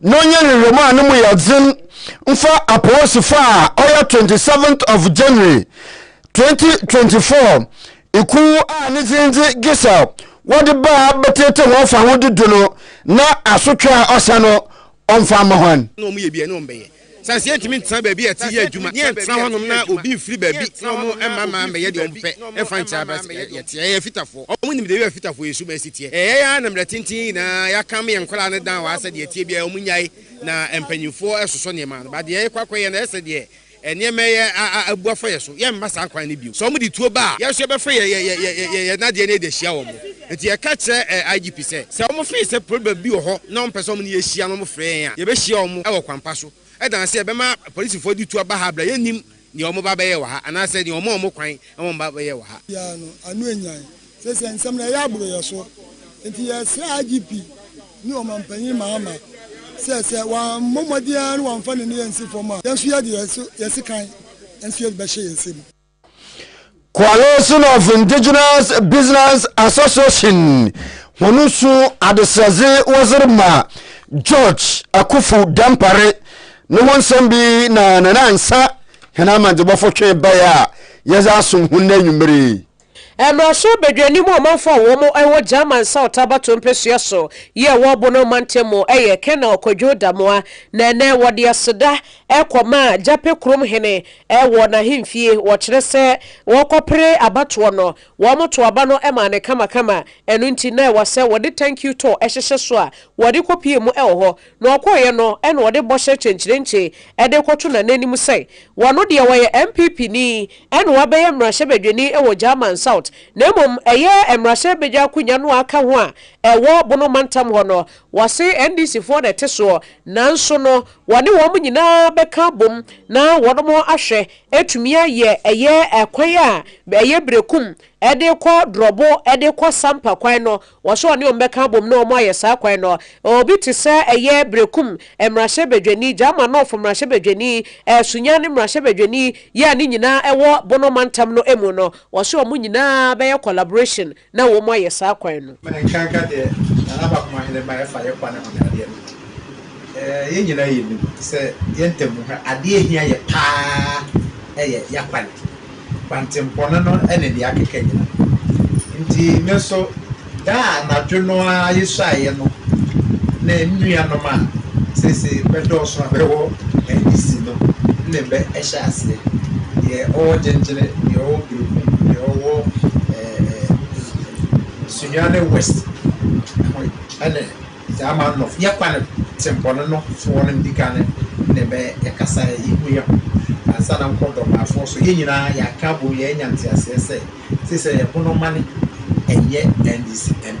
na ɔnyɛ nhwehwɛmu a no mu yɛ dzen mfa aporisifo a ɔyɛ twenty seventh of January twenty twenty four ekuw a ne dzin dze Giselle wɔdze baa bɛtseetsee hɔn fahodzi do no na asotwe a ɔsɛ no ɔmfa mma hɔn. Sɛ ansi yɛntumi ntena baabi a ɛte yɛ adwuma, ne yɛntena hɔnom na obi mfiri baabi na wɔmma mmaa mmɛyɛ deɛ wɔpɛ mfa nkyɛ abrɛ sɛ yɛteɛ. Yɛyɛ afitafoɔ. Wɔnim deɛ ɛyɔ afitafoɔ yɛ su ma ɛsi teɛ. Ɛyɛɛ ara na mmerɛ tenten yi nyinaa yɛakam yɛn nkwadaa no down wɔ ha sɛ deɛ ɛteɛ biara wɔnnyae na mpanimfoɔ sosɔ nneɛma ano. But deɛ yɛkɔ akɔyɛ no, ɛyɛ sɛ deɛ nneɛma yi abu afa yɛn so. Yɛmma saa kwan no bio. Sɛ wɔde tuo ba a, yɛn nso yɛbɛfa yɛn nadeɛ no de ahyia wɔn. Enti yɛka kyerɛɛ IGP sɛ, sɛ wɔfee sɛ problem bi wɔ hɔ na wɔmpɛ sɛ wɔne yɛn hyia na wɔfrɛ yɛn a, yɛbɛhyia wɔn wɔ kwan pa so. Ɛdan sɛ yɛbɛma apolisifoɔ de tu aba ha berɛ a yɛnnim nea wɔn ba bɛyɛ wɔ ha anaasɛ nea wɔma wɔn kwan ma wɔn ba bɛyɛ wɔ ha. Biara no, ano anyan. Seesei nsɛm no reyɛ aboro yɛn so. Enti yɛresrɛ IGP ne Ɔmanpanyin Mahama sɛ, sɛ wammɔ mmɔden ara na wamfa n'ani ansi fam a, yɛn nso yɛde yɛn so yɛn sekan nso yɛde bɛhyɛ yɛn nsam. Coalition of Indigenous Business Association hɔn su adesrɛdze wɔdze rema George Akuffo Dampare no ho nsɛm bi na Nanaansa hɛn amandzebuafo twe bae a yɛdze asom hɔn ndɛ ewimbir yi. Mmarahyɛ Badwanim a ɔmanfo a wɔn wɔ German South abatow mpesua so yɛɛ wɔn Bono mantam mu yɛ Colonel Kwadwo Damoah na ɛnnɛ wɔde aseda kɔmaa Gyapɛ kurom hene Wɔ n'ahemfie, wɔkyerɛ sɛ wɔrekɔpere abatoɔ no, wɔtoo aba no maa no kamakama, ɛno nti na ɛwɔ sɛ wɔde thank you to hyehyɛ so a wɔde kɔpue mu wɔ hɔ. Na ɔkɔeɛ no na ɔde bɔhyɛ kyenkyerenkye de rekɔto Nana anim sɛ ɔno deɛ ɔyɛ MPPni na wabɛyɛ mmarahyɛbadwani wɔ German South na mmom ɛyɛ mmarahyɛbadwa akonwa no a aka ho a ɛwɔ Bono mantam hɔ no. Wɔse NDCfoɔ na ɛte soɔ nanso no Wɔne wɔn nyinaa bɛka abom na wɔnom ahwɛ atumi ayɛ ɛyɛ ɛkwan a ɛyɛ berekum de kɔ drɔbo de kɔ sampa kwan no, wɔ sɛ wɔne wɔn bɛka abom na wɔn ayɛ saa kwan no. Obi te sɛ ɛyɛ berekum mmarahyɛbadwani, Gyaamanɔfo mmarahyɛbadwani, Sunyani mmarahyɛbadwani yi a ne nyinaa wɔ Bono mantam no mu no, wɔ sɛ wɔn nyinaa bɛyɛ collaboration, na wɔayɛ saa kwan no. Ma yɛnkanka deɛ Nana Baakoma Heneman ɛfa yɛ kwan ho ne adeɛ no. Yɛn nyinaa yɛnim sɛ yɛn ntamu ha, adeɛ ɛhia yɛ pa ara yɛ y'akwan. Kwantempɔn no ne deɛ akeka nyinaa. Nti me nso, da a anadwo no ara yɛsuaeɛ no ne me nuanom a seesei bɛdɔɔso a bɛwɔ NDC no ne bɛ hyɛɛ aseɛ. Deɛ ɔwɔ Gyengyene, deɛ ɔwɔ Berekum, deɛ ɔwɔ. Sunyani West ho yi ne dza ama nɔf yɛ kwan tsempɔn no foɔ no ndzi kan ne bɛ yɛkasaɛ yehu yɛ ho ansa na nkɔ dɔbaafoɔ so yɛ nyina yɛaka abom yɛɛnya ntseaseɛ sɛ sesɛ yɛ bonomane ɛnyɛ ndc mp.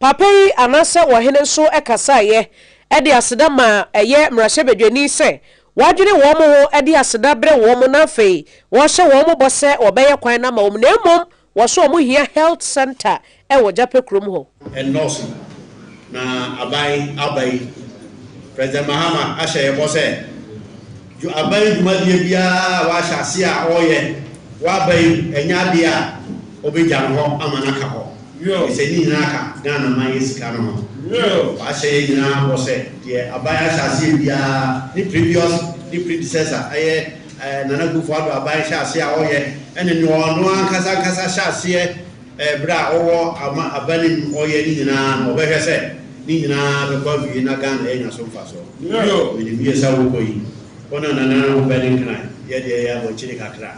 Papa yi anaasɛ ɔhene nso kasaeɛ de aseda maa ɛyɛ mmarahyɛbadwani sɛ wadwene wɔn ho de aseda brɛ wɔn na afei ɔrehyɛ wɔn bɔ sɛ ɔbɛyɛ kwan no ama wɔn na mmom wɔso wɔn hia health center wɔ Gyapɛ kurom hɔ. Ɛnnɔɔso, na aban aba yi, President Mahama ahyɛ yɛn bɔ sɛ. Dwo aban dwumadie biara a wahyɛ aseɛ a ɔreyɛ wɔ aban yi mu, ɛnyɛ adeɛ a ɔbɛgya no hɔ ama no aka hɔ, ɛfiri sɛ ne nyinaa ka Ghana man yɛ sika no ho. Wahyɛ yɛn nyinaa bɔ sɛ deɛ aban ahyɛ aseɛ biara, ne previous ne predecessor, ɛyɛ Nana Akufo-Addo aban hyɛ aseɛ a ɔreyɛ, ɛne deɛ ɔno ankasa ankasa hyɛ aseɛ, Ɛberɛ a ɔwɔ ama aban no mu ɔyɛ ne nyinaa no ɔbɛhwɛ sɛ ne nyinaa bɛkɔ awie na Ghana yɛnya so mfasoɔ. Bio. Menim yie sɛ wokɔ yi wo na Nana na wopɛ ne nkran, yɛ deɛ yɛ abɔkyire kakra.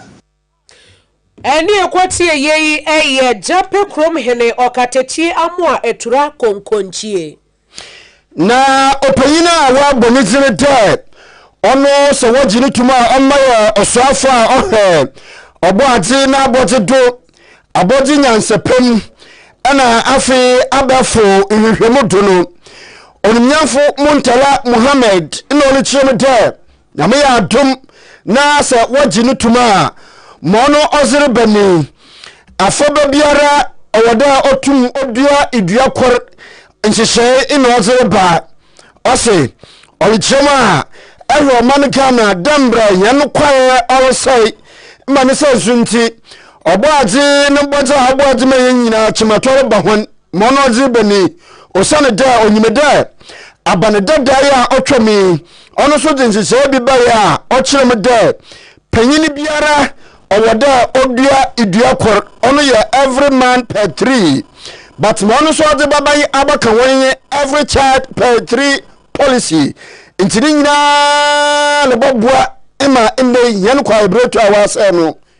Ɛneɛ kɔtie yei ɛyɛ Gyapɛ kurom hene ɔkatakyie Amoa Atura Konkonkyie. Na ɔpanyin a wɔabɔ ne dzin dɛ ɔno sɛ wɔgye no tum a ɔma yɛ ɔsoafo a ɔhwɛ ɔbɔadze n'abɔdze do, abɔdze nyansapɛ mu, na afei abɛɛfo nhwehwɛmu do no, Onumnyamfo Muntala Muhammad na ɔrekyerɛ mu dɛ, Nyame yɛ adom na sɛ wɔgye no tom a, ma ɔno ɔdze reba mu yi, afɔrbɛ biara ɔwɔ dɛ otum odua dua kor nhyehyɛɛ na ɔdze reba. Ɔse ɔrekyerɛ mu a, hwɛ ɔman Ghana dɛ mbrɛ hɛn kwae ɔresɛe ma ne sɛɛ so ntsi, Ɔbɔadze no bɔdze a ɔbɔɔ dze ma hɛn nyina, kyematɔ reba hɔn. Ma ɔno ɔdze bɔ mu yi, osian dɛ onyim dɛ aba no dadaw yi a otwa mu yi, ɔno so dze nhyehyɛɛ bi bae a ɔkyerɛ mu dɛ panyin biara ɔwɔ dɛ odua dua kor, ɔno yɛ every man per three, but ma ɔno so ɔdze bɛba yi abɛka hɔn nye every child per three policy, ntsi ne nyina no bɔboa ma ndɛ hɛn kwaeberɛtu a wɔasɛɛ no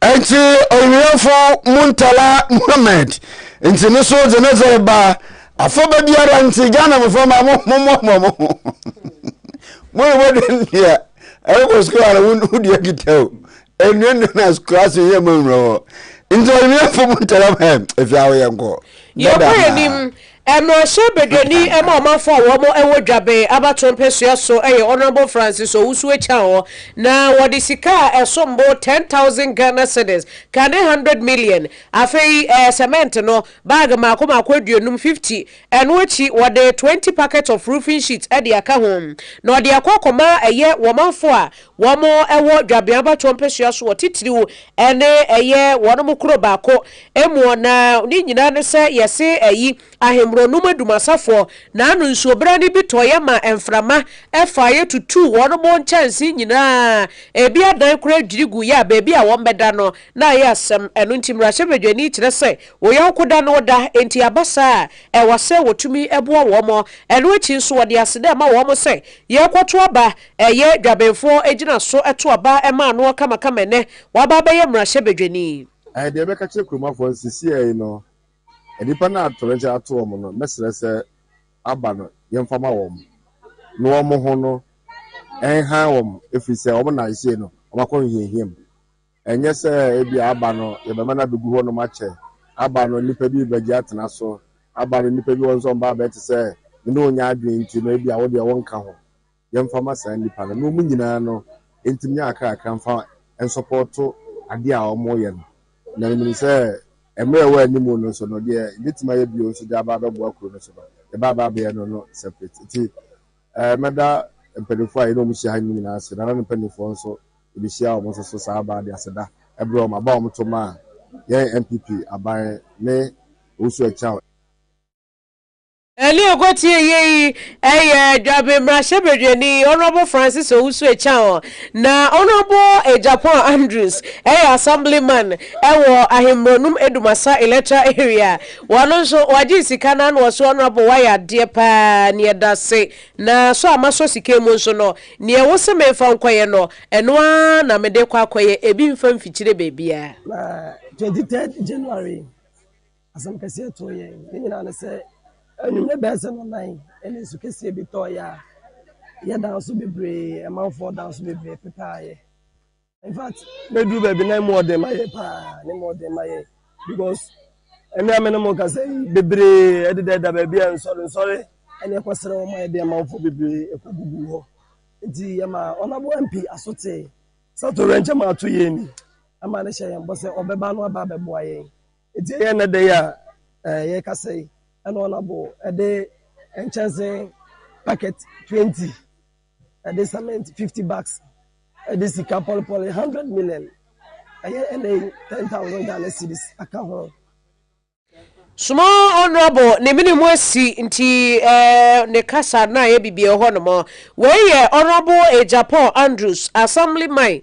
Enti ɔwerɛmfo Muntala Muhammed nti no so dze ne dze reba. Afɔba biara ntsi Ghana mbofra mma mo mommoaboa mo ho. Mo na mobɔdwen dea ɛrokɔ skuul a wo wo dua kita o. Enua nnua na skuul ase yɛ ma nwura wɔ hɔ. Ntsi ɔwerɛmfo Muntala Muhammed, efi ha wo yɛnkɔ. Dada Yɛkɔ ahaa. yɛnim Mmarahyɛ Badwani ma ɔmanfo a wɔn wɔ Dwabɛn abatoɔ mpɛsua so yɛ Honourable Francis Owusu-Akyang na wɔde sika a ɛsom bo ten thousand Ghana cedis, ka ne hundred million, afei cement no bag mmaako mmaako aduonum, fifty, ɛno akyi wɔde twenty packets of roofing sheets de aka ho na ɔde akɔ akɔma ɛyɛ wɔmanfo a Wɔwɔ dwabea abatoɔ mpesua soɔ titiriw ne ɛyɛ wɔn mo koro baako moɔ na ne nyinaa ne sɛ yɛse ayi ahemmerɔ nom adumasafoɔ na ano nsuo berɛ no bi tɔeɛ ma mframa faeɛ tutuu wɔn mo nkyɛnsee nyinaa ebi adan koraa dwiri guiɛ a baabi a wɔn bɛda no na ayɛ asɛm ɛno nti mmarahyɛbadwani kyerɛ sɛ wo yɔnko da ne wo da enti aba saa a ɛwɔ sɛ wɔtumi boa wɔn ɛno akyi nso wɔde aseda ma wɔn sɛ yɛrekɔto aba Ɛyɛ Dwabenfoɔ gyina so to aba ma anoɔ kamakama ɛnɛ waba abɛyɛ mmarahyɛ badwani. Ɛɛ deɛ mɛka kyerɛ kuromafoɔ no sisiɛ yi no nnipa no a torɔgya ato wɔn no mɛsrɛ sɛ aba no yɛmfa ma wɔn na wɔn ho no nhan wɔn ɛfiri sɛ wɔn na ɛsei no wɔn akɔ nhiahia mu ɛnyɛ sɛ ebia aba no yɛbɛma no abɛgu hɔ nom akyɛ aba no nnipa bi bɛgye atena so aba no nnipa bi wɔn nso wɔn ba abɛte sɛ mene wɔn nya adwene nti no ebia wo deɛ wɔnka ho yɛmfa ma saa nnipa no na wɔn nyinaa no ntumi nyɛ akrakra mfa nsɔpɔɔto adeɛ a wɔreyɛ no. Na menim sɛ mmerɛ a ɛwɔ anim no nso no, deɛ yɛbɛtumi ayɛ bio nso de aba abɛboa kuro no so no, yɛbɛaba abɛyɛ no no separate. Nti mɛda mpanimfoɔ a yɛne wɔn hyia ha no nyinaa ase, Nana no mpanimfoɔ nso, yɛbɛhyia wɔn nso so saa baa de aseda brɛ wɔn, aba a wɔto maa yɛn NPP aban ne Owusu Akyang. Ɛne ɔkɔtiee yei yɛ Dwabem mmarahyɛbadwani Honourable Francis Owusu Acheaon, na Honourable Agyapong Andrews yɛ Assemblyman wɔ Ahenmborɔnum Edumasa Electoral Area, ɔno nso wagye sika na na ɔse Honourable wayɛ adeɛ paa, ne ɛdase, na sɔ a masɔ sika mu nso no, neɛ wose memfa nkɔyɛ no, ɛno ara na mede rekɔ akɔyɛ, ebi mfa mfikyire baabiara. Na 23rd January Asɛm kɛseɛ too yɛn. Ne nyinaa ne sɛ, anwummerɛ bɛyɛ sɛ nnɔnan ne nsu kɛseɛ bi tɔeɛ a, yɛdaa nso bebree, amanfoɔ daa nso bebree pepaa yɛn. In fact, bɛduru baabi na ɛmu ɔden ma yɛn paa, na ɛmu ɔden ma yɛn because ɛnnɛ a me ne mo rekasa yi, bebree deda da baabi a nsɔre nsɔre ne ɛkɔsrɛ wɔn ayɛ de amanfoɔ bebree ɛkɔgugu hɔ. Nti yɛmaa Honourable MP Asotse sɛ atoyerɛnkyɛm a ato yɛn ni, ɛma no hyɛ yɛn bɔ sɛ ɔbɛba na waba abɛboa yɛn. Enti ɛyɛ nnɛ da yi a yɛrekasa yi na wɔabɔ de nkyɛnse packet twenty de cement fifty bags de sika pɔlepɔle hundred million ɛyɛ ɛnɛ yi ten thousand Ghana cedis aka ho. Soma Honourable ne mene mu asi nti eh, ne kasa na ayɛ bibia hɔ nom. Wei yɛ Honourable Agyapong Andrews, Assemblyman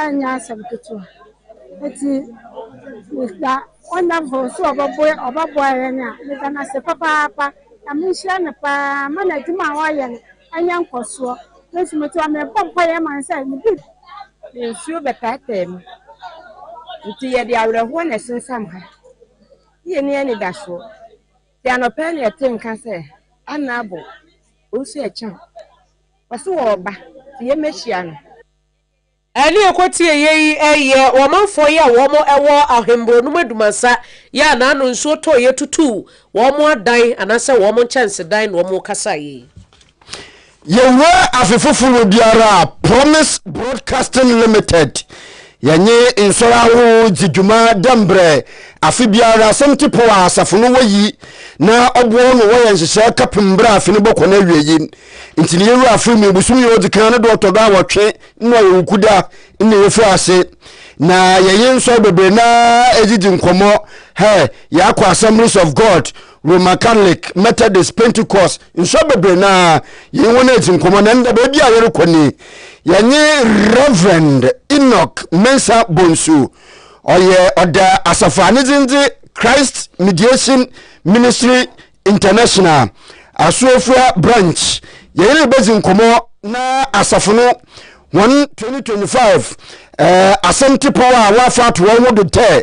Ɛnyɛ asɛm ketewa. Enti meda Wonderful sɛ ɔbɛboa ɔbɛboa yɛn a, meda no ase papaapa. Nyame nhyira no paa mma n'adwuma a ɔreyɛ no anya nkɔsoɔ. Me nso mete hɔ a, mebɔ mpaeɛ ma no sɛ ne bi. Ne nsuo bɛtaataa mu. Enti yɛde awerɛhoɔ na ɛsensam ha, ne yɛnni anidasoɔ. Nti anɔpa yi na yɛtee nka sɛ, Anna abo, wo nso ɛkyɛ wo. Ɔse ɔɔba nti yɛ mɛhyia no. Ɛne ɛkɔ tie yɛ yi ɛyɛ wɔmanfoɔ yɛ a wɔn ɛwɔ ahemburɔ nom adumasa yɛ a na ano nsuo tɔ yɛ tutu wɔn adan anasɛ wɔn nkyɛnsedan na wɔn rekasa yɛ yi. Yɛwura afe foforo biara a Promise Broadcasting Limited Yɛnye nsɔr ahorow dzi dwuma dɛ mbrɛ afe biara asɛmti pɔw a asafo no wɔ yi na ɔboa hɔn ma wɔyɛ nhyehyɛɛ kɛpem mber a afe no bɔkɔ n'ewiei. Ntsi ne yewura afe mu ebosoom yi a odzi kan no do ɔtɔ do awɔtwe no ɔyɛ Wukuda na yefi ase na yɛnye nsɔr beberee no ara edzidzi nkɔmbɔ. Hɛ, yɛakɔ Assemblies of God Roman Catholic, Methodist, Pentecost, nsɔr bebree no ara, yɛnye hɔn edzi nkɔmbɔ, na ndɛ beebi a yɛrokɔ nye yɛnye Rev. Enoch Mensah Bonsu, ɔyɛ ɔda asafo a ne dzin dze Christ Mediation Ministry International, Asuafua Branch, yɛnye no rebedzi nkɔmbɔ na asafo no hɔn 2025 eh, asɛm tsipɔw a wɔafa ato hɔn ho do dɛ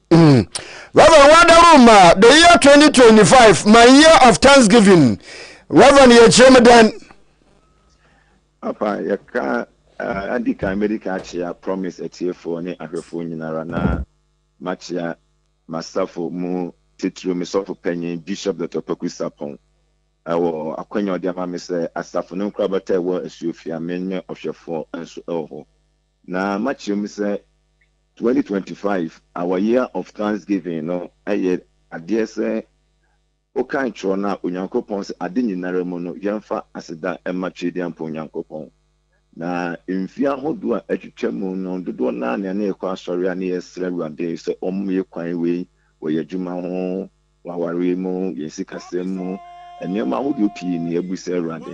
Reverend Wadaru ma the year 2025 my year of thanksgiving. Reverend yɛ kyerɛ me dɛn? Apa yɛka uh, adi kan medi kan akyea promise atiefoɔ ne ahwɛfoɔ nyinara na makyea masafo mu titiriw me sɔfo panyin Bishop Dr. Kwaku Sapon ɛwɔ akwanya ɔde ama me sɛ asafo no nkorabata ɛwɔ Asuofia me ne ɔhwɛfoɔ nso ɛwɔ hɔ. Na makyerɛ mu sɛ 2025, our year of thanksgiving, no yɛ adeɛ sɛ wokan twerɛ no a Onyankopɔn sɛ ade nyinara mu no yɛmfa aseda mma Tweaduampɔn Nyankopɔn. Na mfeɛ ahodoɔ a atwitwa mu no dodoɔ no ara na yɛne yɛkɔ asɔre a ne yɛsrɛ Awurade sɛ ɔmmoe kwan wei wɔ yɛn adwuma ho, wɔ awareɛ mu, yɛn sikasɛm mu, nneɛma ahodoɔ pii na yɛabu sɛ Awurade,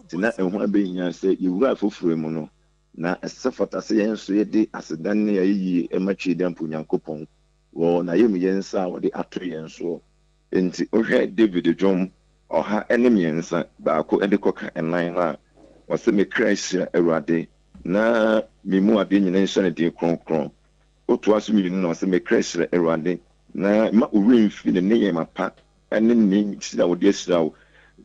te na ɛho abɛhia sɛ yɛwura afoforɔ mu no na ɛsɛ fata sɛ yɛn nso yɛde aseda ne ayeyie ma Tweedan po Nyankopɔn wɔ N'ayamyɛ nsa a wɔde ato yɛn soɔ. Enti wohwɛ David dwom ɔha ne mmiɛnsa, baako de kɔka nnan no a, ɔse, Me kra hyira Awurade, na me mu adeɛ nyina nhyira ne din kronkron. Wotoa so mmienu no a, ɔse, Me kra hyira Awurade, na mma wo werɛ mfiri ne nneyɛɛma pa ne ne nhyira a ɔde ahyira wo.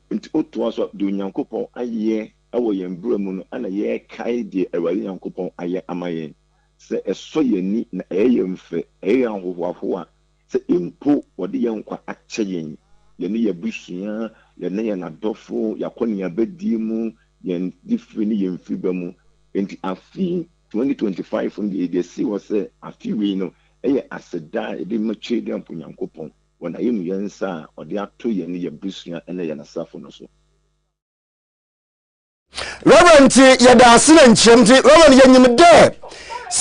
Enti wotoa so a, deɛ Onyankopɔn ayɛ wɔ yɛn brɛ mu no na yɛkae deɛ Awurade Nyankopɔn ayɛ ama yɛn, sɛ ɛsɔ yɛn ani na ɛyɛ yɛn fɛ, ɛyɛ yɛn ahohoahoa, sɛ mpo wɔde yɛn nkwa akyɛ yɛn, yɛne yɛn abusua, yɛne yɛn adɔfo, yɛn akɔneabadie mu, yɛn difire ne yɛn mfiriba mu. Enti afe 2025 no deɛ yɛde asi hɔ sɛ afe wei no yɛ aseda a yɛde ma Twedeamp Nyankopɔn wɔ n'ayamuyɛ nsa a ɔde ato yɛne yɛn abusua ne yɛn asafo no so. Reverend nti yɛda ase na nkyerɛm nti Reverend yɛnyim dɛ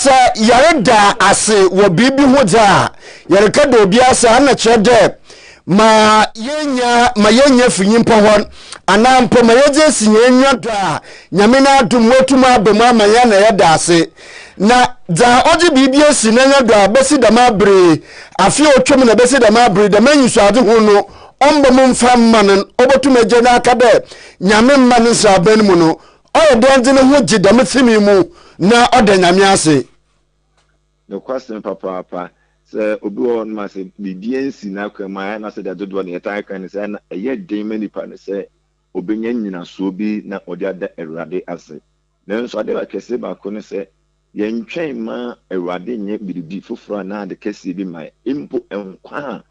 sɛ yɛreda ase wɔ biribi ho dze a yɛreka da obi ase a na kyerɛ dɛ ma yɛnya ma yɛnya fi nyimpa hɔ anaa mpo ma yɛdze esi hɛn enyiwa do a nyame n'adom mu etum aba mu ama yɛn na yɛda ase na dza ɔdze biribi esi n'enyiwa do a bɛsi dɛm abere afe a otwam na bɛsi dɛm abere dɛm enyisoadze ho no ɔmmbɔ mu mfa mma no no, obotum egye no aka dɛ Nyame mma no nseraban mu no, ɔyɛ dɛn dze no ho gye dɛm fi me mu na ɔda Nyame ase? Nokwasɛm papaapa, sɛ obi wɔ hɔnom a sɛ biribi ennsi n'akwan mu a, nna sɛdeɛ dodoɔ no yɛtaa ka ne sɛ, nna ɛyɛ den ma nipa no sɛ obenya nnyinasoɔ bi na ɔde ada Awurade ase. Nanso adeɛ ba kɛseɛ baako ne sɛ, yɛntwɛn mma Awurade nyɛ biribi foforɔ anaa ade kɛseɛ bi mma yɛn, mpo nkwa a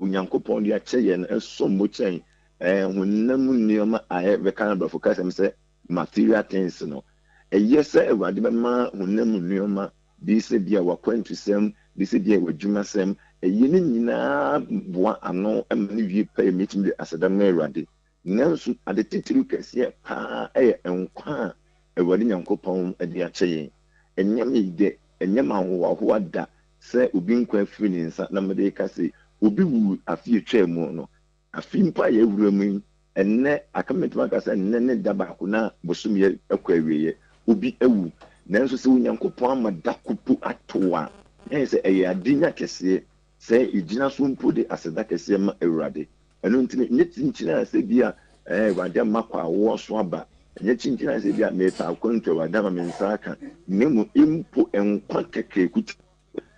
Onyankopɔn de akyɛ yɛn no som bo kyɛn honam mu nneɛma a yɛbɛka no aborɔfo kasam sɛ material things no. Ɛyɛ sɛ Awurade bɛma honam mu nneɛma, bi sɛ ebia w'akwantusɛm, bi sɛ ebia w'adwumasɛm, ɛyɛ ne nyinaa boa ano ma ne wie pɛyɛ ma yɛtumi de aseda ma Awurade. Nanso ade titiriw kɛseɛ paa yɛ nkwa a Awurade Nyankopɔn de akyɛ yɛn. Ɛnyɛ me dɛ, ɛnyɛ m'ahohoahoa da sɛ obi nkwa afiri ne nsa na mede reka se obi wuu afe a etwaa mu no. Afe mpo a yɛawura mu yi, ɛnnɛ, aka mɛtumi aka sɛ nnɛ ne da baako na bosome yi kɔ awieɛ. Obi awu. Nanso sɛ Onyankopɔn ama da ko mpo ato a, na ɛyɛ sɛ ɛyɛ adenya kɛseɛ sɛ yɛgyina so mpo de aseda kɛseɛ ma Awurade. Ɛno nti no, nyɛ kyinkyin a sɛ bi a ɛɛ Awurade ama kɔ a wowɔ so aba, nyɛ kyinkyin a sɛ bi a mepɛ akwantu a Awurade ama me nsa aka, na mmom mpo nkwa kɛkɛ kuti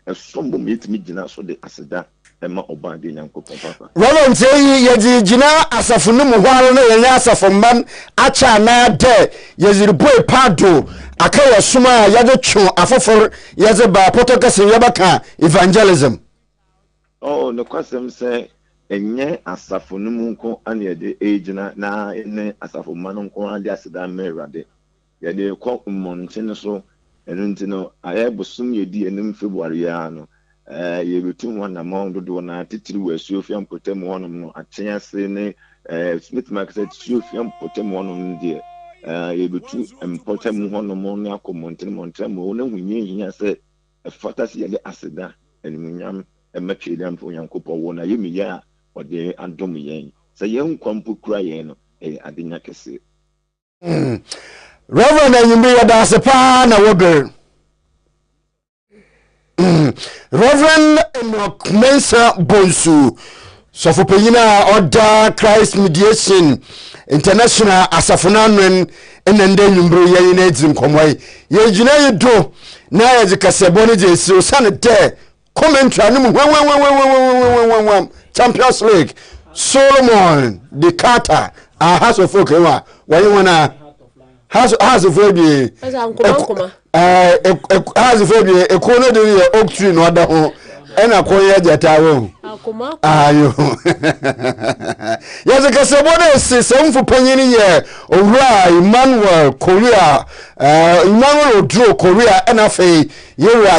ɛsom bo ma yɛtumi gyina so de aseda ma Ɔbɔadeɛ Nyankopɔn papa. Volunteer yi yɛdze rigyina asafo no mu hɔ ara na yɛnye asafo mba no akyɛ anan dɛ yɛdze rubue paado akã wɔ som a yɛdze two afofor yɛdze ba Pɔtɔ Kɛse no yɛbɛkã evangelism. Oh, nokwasɛm sɛ ɛnyɛ asafo no mu nko ara na yɛde regyina na yɛne asafo mma no nko ara de aseda rema Awurade. Yɛde rekɔ mmɔnten so. Ɛno nti no, ayɛ bosoom a edi anim February yi ara no, eh, yɛretu ho anammɔn dodow no ara, titiriw wɔ Asuofia mpɔtam hɔnom no, akyɛn ase ne, eh, metumi aka sɛ Asuofia mpɔtam hɔnom no deɛ, eh, yɛrebetu mpɔtam hɔnom ne akɔ mmɔnten mmɔnten ama wɔahu nea ehia sɛ Ɛfata sɛ yɛde aseda, animuonyam, ma Tweaduamfo Nyankopɔn wɔ n'ayamye a ɔde adom yɛn. Sɛ yɛn nkwa mpo kura yɛn no, ɛyɛ adenya kɛse. Rev. Anwummere yɛda ase paa na wober. Rev. Enoch Mensah Bonsu. Sɔfopanyin a ɔda Christ Mediation International asafo no ano na ndɛ ewimbir yi yɛnye no edzi nkɔmbɔ yi. Yɛn gyinae yi do na yɛdze kasɛɛbɔ no dzi esie osiandɛ commentary a no mu huamhuamhuamhuamhuamhuamhuamhuam Champions League Solomon Di Carter aha sɔfoɔ kɛn a wɔnye hɔn a Hazifo abien. nkoma nkoma. Hazifo abien ekuo no de yɛ oak tree na ɔda ho ɛna kɔn yɛ gyata wɔ ho. ayo yɛdze kasabɔ no esi sɛmfo panyin yɛ owura emmanuel korea emmanuel oduro korea ɛna afei yɛwura